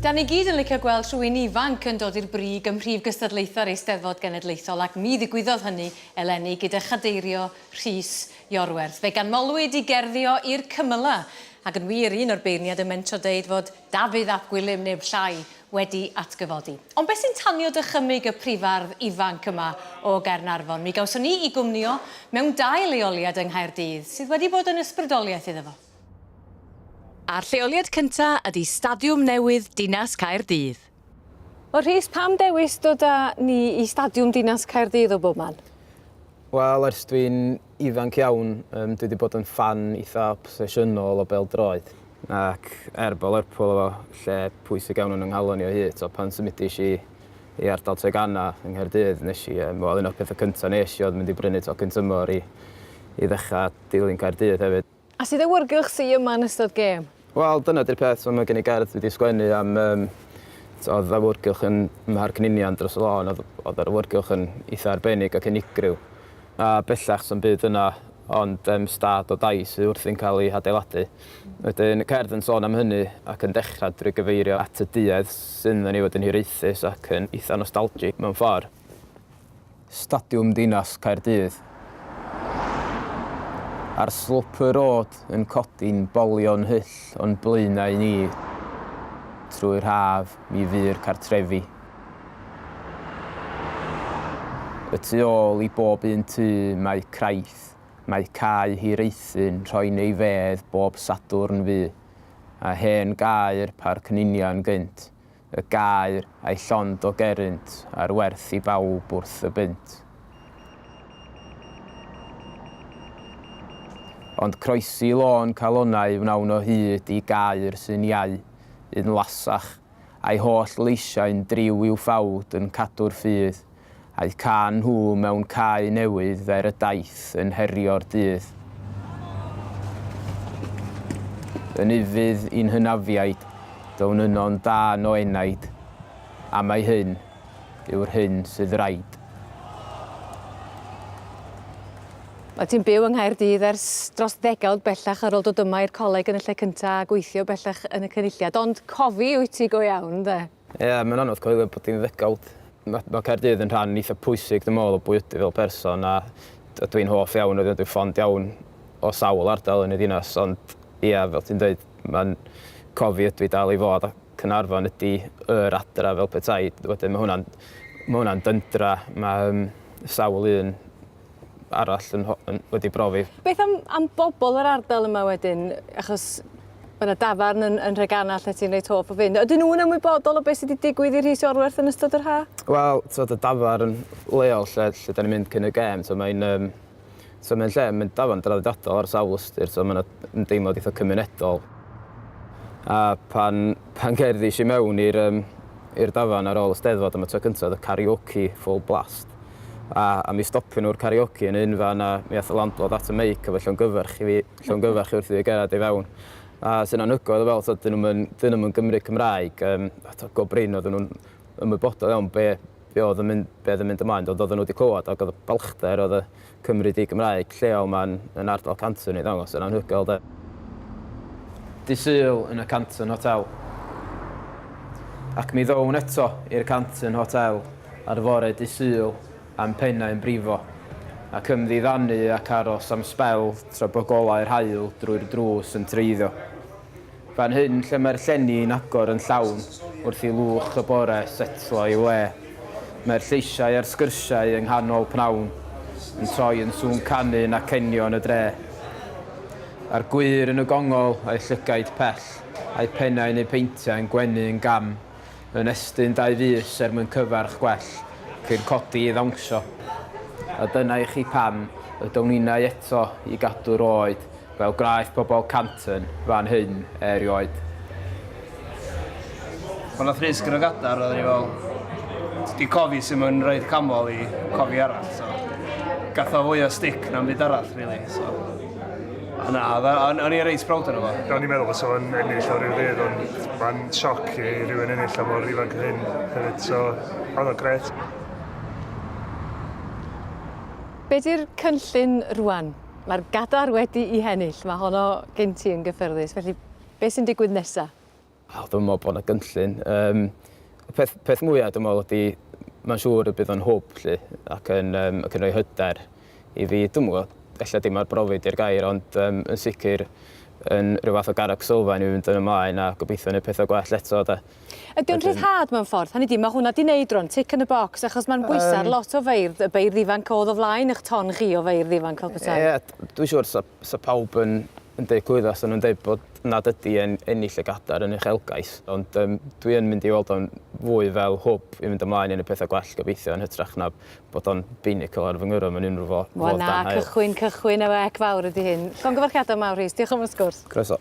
Da ni gyd yn licio gweld rhywun ifanc yn dod i'r brig ym mhrif gystadlaethau'r Eisteddfod Genedlaethol ac mi ddigwyddodd hynny eleni gyda chadeirio Rhys Iorwerth. Fe ganmolwyd i gerddi o i'r cymylau ac yn wir un o'r beirniad yn mentro deud fod Dafydd ap Gwilym neb llai wedi atgyfodi. Ond beth sy'n tanio dychymyg y prifardd ifanc yma o Gaernarfon? Mi gawson ni i gwmnïo mewn dau leoliad yng Nghaerdydd sydd wedi bod yn ysbrydoliaeth iddo fo. A'r lleoliad cynta ydi Stadiwm newydd Dinas Caerdydd. O Rhys, pam dewis dod â ni i Stadiwm Dinas Caerdydd o bob man? Wel, ers dwi'n ifanc iawn, um, dwi wedi bod yn fan eitha obsesiynol o bêl-droed. Ac er bod Lerpwl efo lle pwysig iawn yn yng nghalon i o hyd, so pan symudis i i ardal Treganna yng Nghaerdydd, nes i, um, wel, un o'r pethau cyntaf nes i oedd mynd i brynu tocyn tymor i, i ddechrau dilyn Caerdydd hefyd. A sut awyrgylch sy yma yn ystod gêm? Wel dyna di'r peth so ma' gen i gerdd dwi 'di sgwennu am yym so odd awyrgylch yn Mharc Ninian dros y lôn odd odd yr awyrgylch yn itha arbennig ac unigryw a bellach sa'm byd yna ond yym stad o dai sy wrthi'n ca'l 'i hadeiladu. Wedyn y cerdd yn sôn am hynny ac yn dechra drwy gyfeirio at y duedd sydd 'na ni fod yn hiraethus ac yn itha nostalgic mewn ffor. Stadiwm Dinas Caerdydd. Ar slwp y rôd yn codi'n bolion hyll o'n blaenau ni. Trwy'r haf mi fu'r cartrefi. Y tu ôl i bob un tŷ mae craith, mae cae hir eithin rhoi'n ei fedd bob Sadwrn fu, a hen gae'r Parc Ninian gynt, y gaer a'i llond o gerrynt ar werth i bawb wrth y bunt. Ond croesi lôn calonnau wnawn o hyd i gaer sy'n iau, un lasach, a'i holl leisiau'n driw i'w ffawd yn cadw'r ffydd, A'u cael nhw mewn cae newydd fer y daith yn herio'r dydd. Yn ufudd i'n hynafiaid, down yno'n dân o enaid, a mai hyn yw'r hyn sydd raid. Wyt ti'n byw yng Nghaerdydd ers dros ddegawd bellach ar ôl dod yma i'r coleg yn y lle cyntaf a gweithio bellach yn y Cynulliad, ond cofi wyt ti go iawn, ynde? Ie, mae'n anodd coelio bod hi'n ddegawd. Mae ma Caerdydd yn rhan eitha pwysig, dwi'n meddwl, o bwy ydw fel person, a ydw i'n hoff iawn, ydw i'n ffond iawn o sawl ardal yn y ddinas, ond ie, fel ti'n dweud, mae'n cofi ydw i dal i fod, a Cynarfon ydy yr adra fel petai. Wedyn mae hwnna'n ma hwnna dyndra, mae um, sawl un arall yn, yn, wedi brofi. Beth am, am bobl yr ardal yma wedyn? Achos mae yna dafarn yn, yn Rhegana lle ti'n reit hoff o fynd. Ydyn nhw'n ymwybodol o beth sydd wedi digwydd i Rhys Orwerth yn ystod yr ha? Wel, so, y dafarn leol lle, lle da ni'n mynd cyn y gem, so, mae'n um, so, mae lle, mae'n dafarn draddodiadol ar sawl ystyr, so, mae'n ymdeimlad eitha cymunedol. A pan, pan gerddi i mewn i'r um, dafarn ar ôl y steddfod am y tro cyntaf, y karaoke full blast. a a mi stopion nhw'r karaoke yn un fan a mi ath y landlord at y meic efo llongyfarch i fi llongyfarch i fi wrth i fi gerdded i fewn a sy'n anhygoel o weld t'od 'dyn nhw'm yn 'dyn nhw'm yn Gymry Cymraeg yym a t'od go brin oedden nhw'n ymwybodol iawn be' be' o'dd yn mynd be' o'dd yn mynd ymlaen ond oedden nhw 'di clywad ag o'dd y balchder o'dd y Cymry di-Gymraeg lleol 'ma yn yn ardal Canton i ddangos yn anhygoel 'de. Dydd Sul yn y Canton Hotel. Ac mi ddown eto i'r Canton Hotel ar fore dydd Sul a'm pennau yn brifo, ac ymddiddanu ac aros am sbel tra bo golau'r haul drwy'r drws yn treiddio. Fan hyn lle mae'r llenni yn agor yn llawn wrth i lwch y bore setlo ei le, mae'r lleisiau a'r sgyrsiau yng nghanol pnawn yn troi yn sŵn canu yn acenion y dre. A'r gwyr yn y gongol, a'u llygaid pell, a'u pennau neu peintiau yn gwenu yn gam, yn estyn dau fys er mwyn cyfarch gwell cyn codi i ddawnsio. A dyna i chi pam y down innau eto i gadw'r oed fel gwnaeth pobl Canton fan hyn erioed. Pan nath Rhys gyrraedd gadar roedden ni fel ti di cofi sut mae'n roid camol i cofi arall so gath o fwy o stick na'm byd arall rili so. Na, o'n i'n reit proud o'n fo. O'n i'n meddwl bod o'n ennill o rhyw ddydd, ond mae'n sioc i rhywun ennill am o'r ifanc hyn hefyd, so oedd o'n gret. Be di'r cynllun rwan? Mae'r gadar wedi i hennill, mae honno gen ti yn gyffyrddus, felly be sy'n digwydd nesa? O, dwi'n meddwl bod 'na gynllun. Yym, y peth, peth mwyaf dwi'n meddwl ydy, mae'n siŵr y bydd o'n hwb lly, ac yn, um, ac yn rhoi hyder i fi. Dwi'n meddwl, efallai dim ar brofi di'r gair, ond um, yn sicr yn rhyw fath o garreg sylfaen i fynd yn ymlaen a gobeithio wneud pethau gwell eto. Da. Ydy o'n rhyddhad mewn ffordd? Hynny di, mae hwnna di wneud rhywun tic yn y bocs, achos mae'n bwysau um, lot o feirdd, y beirdd ifanc oedd o flaen eich ton chi o feirdd ifanc fel petai. Ie, yeah, dwi'n siŵr, so, Bysa pawb yn yn deud clwydda, fysa nhw'n deud bod nad ydi e'n ennill y gadair yn uchelgais, ond yym dwi yn mynd i weld o'n fwy fel hwb i fynd ymlaen i neud petha gwell gobeithio yn hytrach na bod o'n binnacle ar fy ngwryw am yn unrhyw fo- fodd dan haul. Wel na, cychwyn, cychwyn efo ec fawr ydi hyn. Llongyfarchiadau mawr Rhys, diolch am y sgwrs. Croeso.